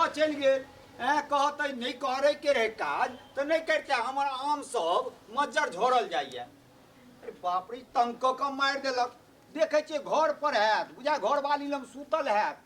चलि गेल एँ कहतै नहि करैके रहै काज तऽ नहि करिते हमर आम सब मज्जर झोड़ल जाइए अरे बाप रे तंग कऽ कऽ मारि देलक देखै छियै घर पर हैत बुझा घरवाली लग सुतल हैत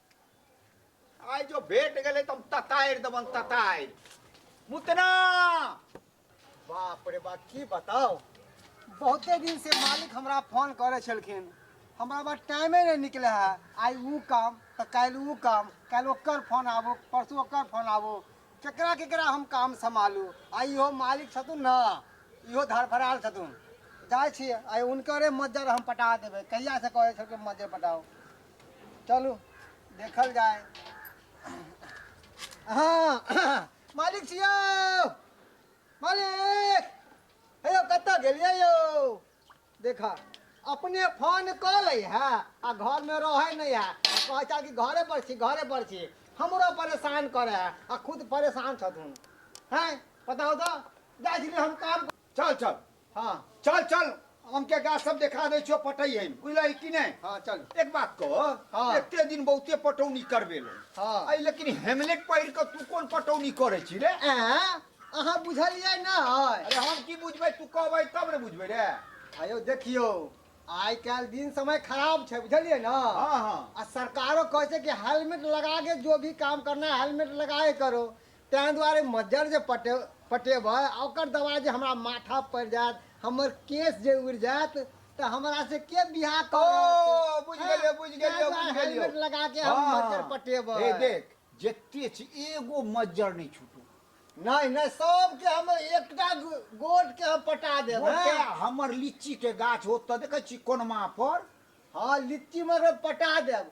आइ जो भेट गेलै तऽ हम ततारि देबन ततारि मुतना बाप रे बाप की बताओ बहुते दिन से मालिक हमरा फोन करे छलखिन हमरा बा टाइमे नहीं निकले है आई वो काम तो कल वो काम कल ओकर फोन आबो परसों ओकर फोन आबो केकरा केकरा हम काम संभालू आ इहो मालिक छथुन ना इहो धड़फड़ाल छथुन जाइ छी आई उनकरे मज्जर हम पटा देबै कहिया से कहे छलखिन मज्जर पटाओ चलू देखल जाए हाँ मालिक छी यौ मालिक हे यौ कतऽ गेलियै यौ देख अपने फोन कऽ लै है आ घरमे रहै नहि है आ कहै छै कि घरे पर छी घरे पर छी हमरो परेशान करे है आ खुद परेशान छथुन हैं बताउ तऽ जाइ छी हम काम चल चल हाँ चल चल आम के गाछ सब देखा दे छो पटई है बुझल कि नहीं हाँ चल एक बात कह हाँ। एते दिन बहुते पटौनी करबे ले हाँ। आई लेकिन हेमलेट पहिर के तू कोन पटौनी करे छी रे ऐं, अहाँ बुझलियै ना अरे हम की बुझबै तू कहबै तब ने बुझबै रे आयो देखियो आइ काल्हि दिन समय खराब छै बुझलियै ना हाँ हाँ आ सरकारो कहै छै कि हेलमेट लगा के जो भी काम करना है हेलमेट लगाए करो तैं दुआरे मज्जर जे पटे पटेबै आ ओकर दबाइ जे हमरा माथा पड़ि जायत हमर केश जे उड़ि जायत तऽ हमरा से के बियाह ओ करत बुझि हँ, गेलियौ बुझि तैं गेलियौ दुआरे बुझि गेलियौ हेलमेट लगा के हम हँ, मज्जर हँ। पटेबै हे देख जते छी एगो मज्जर नहि छूटू नहि नहि सबके हम एकटा गो- गोट के हम पटा देब ओते हँ। हमर लीची के गाछ ओतऽ देखै छी कोनमा पर हँ लिट्टी मगर पटा देब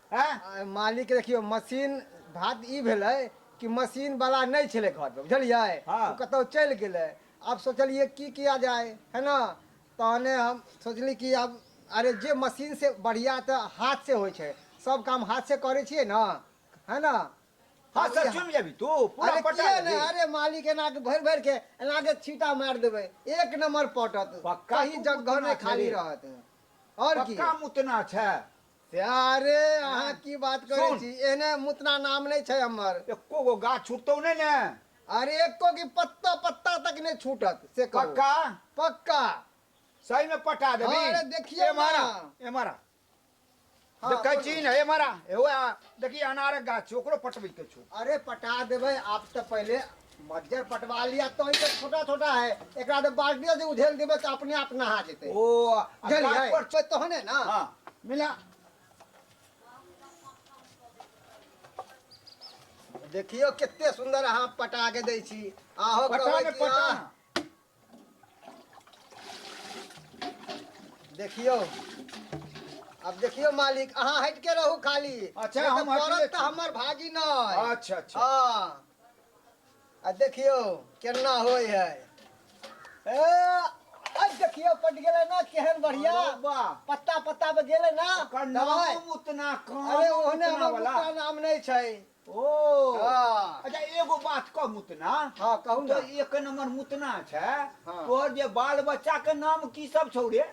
आँय मालिक देखियौ मशीन बात ई भेलै कि मशीन बला नहि छलै घर पर बुझलियै ओ कतौ चलि गेलै आब सोचलियै की किया जाय है ने तहने हम सोचली कि आब अरे जे मशीन से बढ़िया तऽ हाथ से होइ छै सब काम हाथ से करै छियै ने है ने हाँ आब सर ई- चुन जाबी तू पूरा अरे पटा किया ले ने अरे मालिक एना के भरि भरि के एना के छीटा मारि देबै एक नंबर पटत पक्का कहीं तू जगह उतना नहि खाली छेड़े। रहत और की पक्का मुतना छै अरे अहाँ की बात करै सुन। छी एहने मुतना नाम नहि छै हमर एको गो गाछ छुटतौ नहि ने अरे एको की पत्ता पत्ता तक नहि छूटत से कहू पक्का पक्का सही में पटा देबी हाँ, अरे देखियौ ए मारा ना। ए मारा हाँ, देखै बोलू। छी ने ए मारा एहो आ, देखी अनारक गाछ छै ओकरो पटबै के छौ अरे पटा देबै आप तऽ पहिले मज्जर पटवा लिया तो ई तऽ छोटा छोटा है एकरा तो बाल्टियो से उझेल देबे तऽ अपने आप नहा जेतै ओ आ गाछ बुझलियै पर छै तहने ने हाँ मिला देखियो कते सुंदर अहाँ पटा के दै छी अहो पटा कहबै ने, कि पटा अहाँ ने। देखियो अब देखियो मालिक अहाँ हट के रहू खाली अच्छा, नहीं हम तो हटले पड़त छी। तऽ हमर भागी नहि अच्छा अच्छा हाँ आ देखियो केना होय है ए आ देखियो पट गेलै ना केहन बढ़िया अरे वाह पत्ता पत्ता पे गेलै ना ओकर दवाई नाम उतना कम अरे ओहने उतना हमर वाला। मुखड़ा नाम नहि छै ओ हाँ। अच्छा एगो बात कह मुतना हाँ, कहू तो ने। एक नंबर मुतना छै हाँ। तोहर जे बाल बच्चा के नाम की सब छौ रे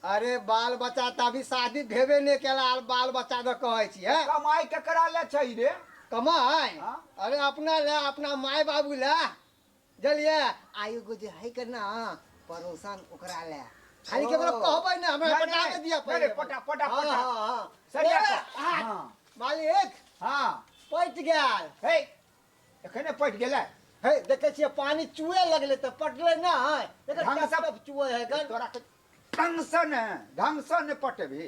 अरे बाल बच्चा तऽ अभी शादी भेबे नहि केला आर बाल बच्चा दऽ कहै छी है कमाई केकरा ले छै रे कमाय हाँ। अरे अपना ले अपना माय बाबू ले जलिए आ एगो जे है के ना परोसन ओकरा ले खाली केकरो ओ। कहबै ना हमरा नहीं, पटा नहीं, के दिया नहीं, पहिले नहीं, पटा, पटा, हाँ, पटा। हाँ, हाँ। सरिया ए, पटा। हाँ, हाँ। मालिक हाँ पट गेल हे एखने पटि गेलै हे देखे छियै पानी चुए लगले तऽ पटले ना है एकर ढंग से- टप-टप चुए है गन तोरा के ढंग से ने ढंग से ने पटेबही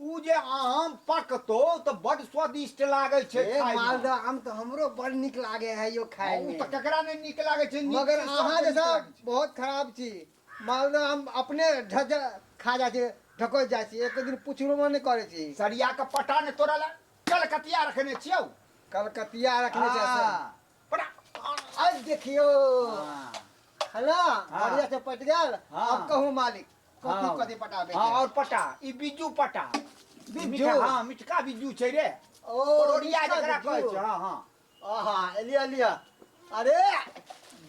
ऊ जे आम पकतौ तऽ बड्ड स्वादिष्ट लागै छै हे खाय मे। मालदह आम तऽ हमरो बड़ नीक लागे है यौ खाय हँ, ऊ मे तऽ केकरा नहि नीक लागै छै, नीक मगर चीज अहाँ सबके जे नीक सब लागै छै। बहुत खराब छी मालदह आम अपने ढज खा जाइ छी ढकोसि जाइ छी एको दिन पुछबो नहि करै छी सरिया कऽ पटा ने तोरा लए कलकतिया रखने छियौ कलकतिया रखने छै से हँ। आज देखियो है ना हाँ। बढ़िया से पट गल हाँ। अब कहू मालिक हाँ। कथी कथी पटाबे हाँ और पटा ई बिज्जू पटा बिज्जू? मीठा- हाँ मिठका बिज्जू छै रे ओ परोड़िया मिठका जकरा कहै बिज्जू। छै हाँ हाँ आहा एलिया एलिया अरे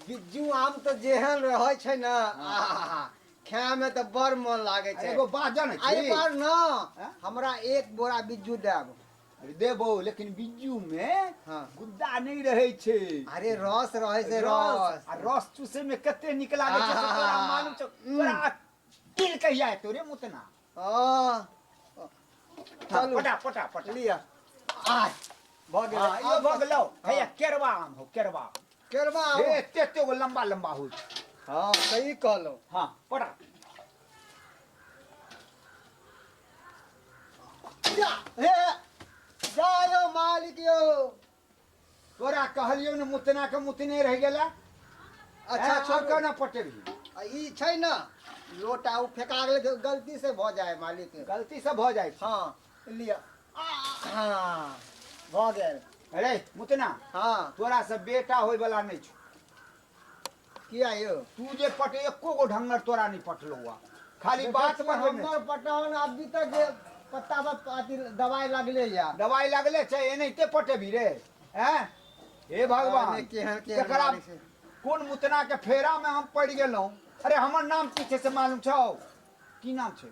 बिज्जू आम तो जेहन रहै छै ना आहा खाय में तो बड़ मन लागे छै एगो बात जानै अरे छी पर ना हाँ? हमरा एक बोरा बिज्जू देब अरे देबो लेकिन बिज्जू में हाँ। गुद्दा नहीं रहे छे अरे रस रहे से रस रस आ रस चूसे में कते निक लागे छै से आहा। तोरा मालूम छौ हम्म। तोरा तिल कहिया एतौ रे मुतना हाँ, हाँ, चलू पटा पटा पटा लिया आ भऽ गेल हाँ, यो भऽ गेलौ हैया केरवा आम हो केरवा आम। केरवा हो ए, एते एते गो लंबा लंबा होइ छै हाँ सही कहलो हाँ पड़ा जा हे जा यो मालिक यो तोरा कहलियो ने मुतना के मुतने रह गेला अच्छा अच्छा छोड़ छोड़ ना पटेबी आ ई छै ना लोटा उ फेका गेल गलती से भऽ जाए मालिक गलती से भऽ जाइ छै हाँ लिया हाँ भऽ गेल अरे मुतना हाँ तोरा से बेटा होय वाला नहीं छो किया यो तू जे पट एको गो ढंगर तोरा नहीं पटलो हुआ खाली बात में हम हमर पटावन अभी तक जे पत्ता पर अथी दवाई लगले या दवाई लगले छै एनाहिते पटेबी रे हैं हे भगवान अरे केहन- केहन एकरा मारै छै। कोन मुतना के फेरा में हम पड़ गेलहुं अरे हमर नाम की छै से मालूम छौ की नाम छै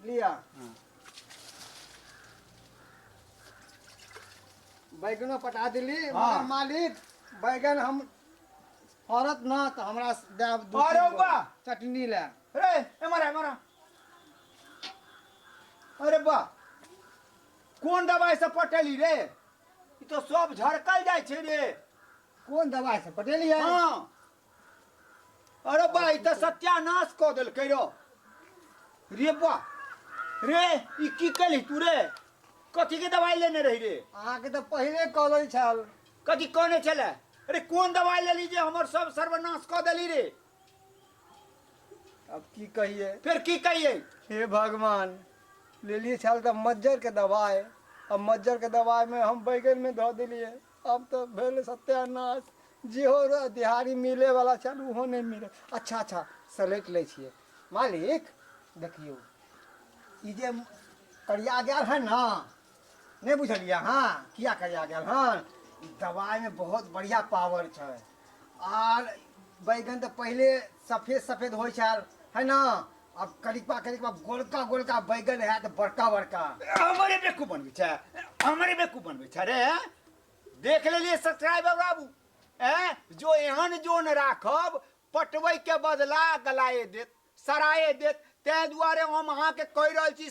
लिअ हँ। बैगनो पटा देली हँ। मगर मालिक बैगन हम फड़त न तऽ हमरा देब दू अरे तीन गो वाह! चटनी लए रे एमर आ, एमर आ। अरे बा कोन दवाई से पटेली रे ई तो सब झड़कल जाइ छै रे कोन दवाइ से पटेली है हाँ अरे बा ई तऽ सत्यानाश कऽ देलकै रौ रे बा रे ई की केलही तू रे कथी के दवाई लेने रही रे अहाँके तऽ पहिले कॉलेज छल कथी कहने छले अरे कोन दवाई लेली जे हमर सब सर्वनाश कऽ देली रे अब की कहिए फिर की कहिए हे भगवान लेलिए छल तऽ मज्जर के दवाई अब मज्जर के दवाई में हम बैगन में धऽ देलिए अब तऽ भेल सत्यानाश जेहो र- दिहाड़ी मिले वाला छल ओहो नहि मिले अच्छा अच्छा सलैट लै छियै मालिक देखियौ ई जे करिया गेल है ने नहि बुझलियै अहाँ किया करिया गेल हन ई दवाइमे बहुत बढ़िया पावर छै आर बैगन तऽ पहिले सफेद सफेद होइ छल है ने अब कनिकबा कनिकबा गोलका गोलका बैगन है तो बड़का बड़का हमारे बेकू बनबे छै हमारे बेकू बनबे छै रे देख लेलिए सब्सक्राइबर बाबू ए जो एहन जोन राखब पटवे के बदला गलाए देत सराए देत ते दुआरे हम अहाँ के कह रहल छी